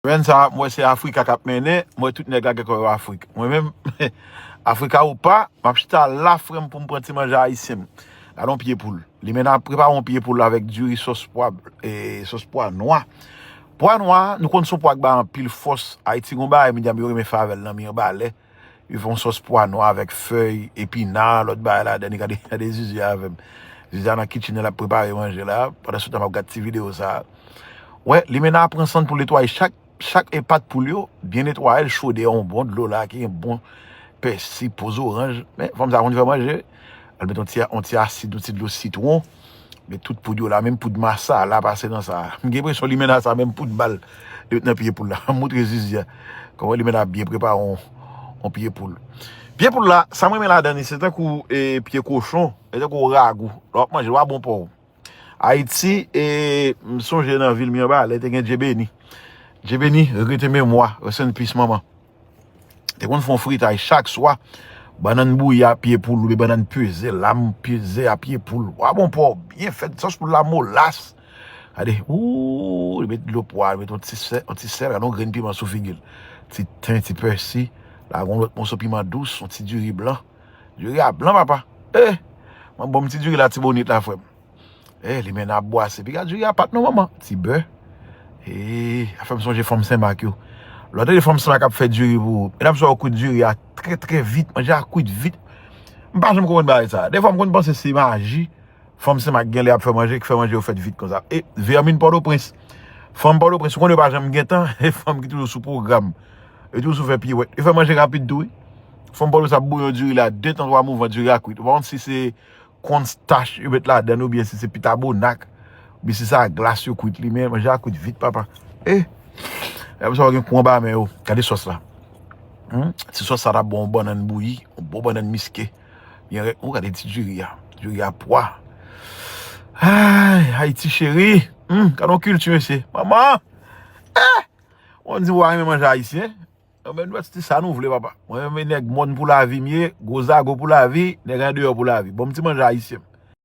Semaine sa mwen se Africa kap mennen, mwen tout nèg la gen kò yo Afrique. Mwen menm Africa ou pa, map chita la frèm poum pran ti manje ayisyen m. Gade yon pye poul. Limena ap prepare yon pye poul avèk diri sos pwa e sos pwa nwa. Pwa nwa nou konn son pwa ki bay anpil fòs. Ayiti gon bagay medam yo renmen fè avèl nan mirbalais. Yo fè yon sòs pwa nwa avèk fèy epina, lòt bagay ladan li. Gade, gade Zuzu a avè m. Zuzu a nan kitchen nan l ap prepare manje la. Pandan se tan m ap gad ti videyo sa a. Wè, Limena pran san l pou l netwaye chak, chak e pat poul yo. Byen netwaye l, chode yon bon dlo la ki gen bon pèsi, po zoranj. Men, fanm sa konn fè manje. Al met yon ti, yon ti asid, yon ti dlo sitwon. Men tout poud yo la, menm poud massa la pase nan sa. M gen presyon limena sa menm poud bal li met nan pye poul la. M moutre zizi a. Kòman limena ap byen prepare yon pye poul. Pye poul la, sa m renmen ladan li se tankou pye kochon, se tankou ragou. Lè w ap manje l pa bon pou w. Ayiti, m sonje nan vil Mirebalais te gen Djebeni. Djebeni, regrete memwa, rest in peace manman. Te konn fon fritay chak swa. Bannann bouyi a pye poul oubyen bannann peze, lam peze a pye poul. Pwa bon, pwa w byen fèt, sòs poul la molas. Gade, ooh, li met dlo pwa, li met yon ti sèl, yon ti sèl, gade yon grenn piman sou figi l. Ti ten, ti pèsi, la gen yon lòt moso piman dous, yon ti diri blan. Diri a blan papa. Eeh! Mwen ban m ti diri latibonit la frè m. Eeh li menm ap bwase. Piga duri a pat non manman. Ti bè. Eeh a fèm sonje fanm senmak yo. Lè w tande fanm senmak ap fè duri pou ou. Medam sa yo kwit duri a trè trè vit. Manje a kwit vit. M pa janm konprann bagay sa. Dèfwa m konn panse se maji fanm senmak genlè ap fè manje ki fè manje yo fèt vit konsa. E vèmin pòtoprens. Fanm pòtoprens ou konn yo pa janm gen tan. E fanm ki toujou sou pwogram. Yo toujou sou fè piwèt. Yo fè manje rapid tou wi. Fanm pòtoprens ap bouyon duri la 2 tan 3 mouvan duri a kwit. Ou pa konn si se. Konn stach yo met ladann ou byen si se pita bonak ou byen si se ak glas yo kwit li men manje a kwit vit papa eh lèm sa ou gen kou anba men ou gade sòs la humm ti sòs sa ta bon yon bannann bouyi yon bon bannann miske byen rèk ou gade ti diri a diri a pwa aayy Haïti chérie humm gad yon kilti mesye manman eh ou konn di ou pa renmen manje ayisyen Anben nou sti sa nou vle papa. Mwen renmen nèg mòn pou lavi m ye, gwo zago pou lavi, nèg andeyò pou lavi. Bon m ti manje ayisyen m.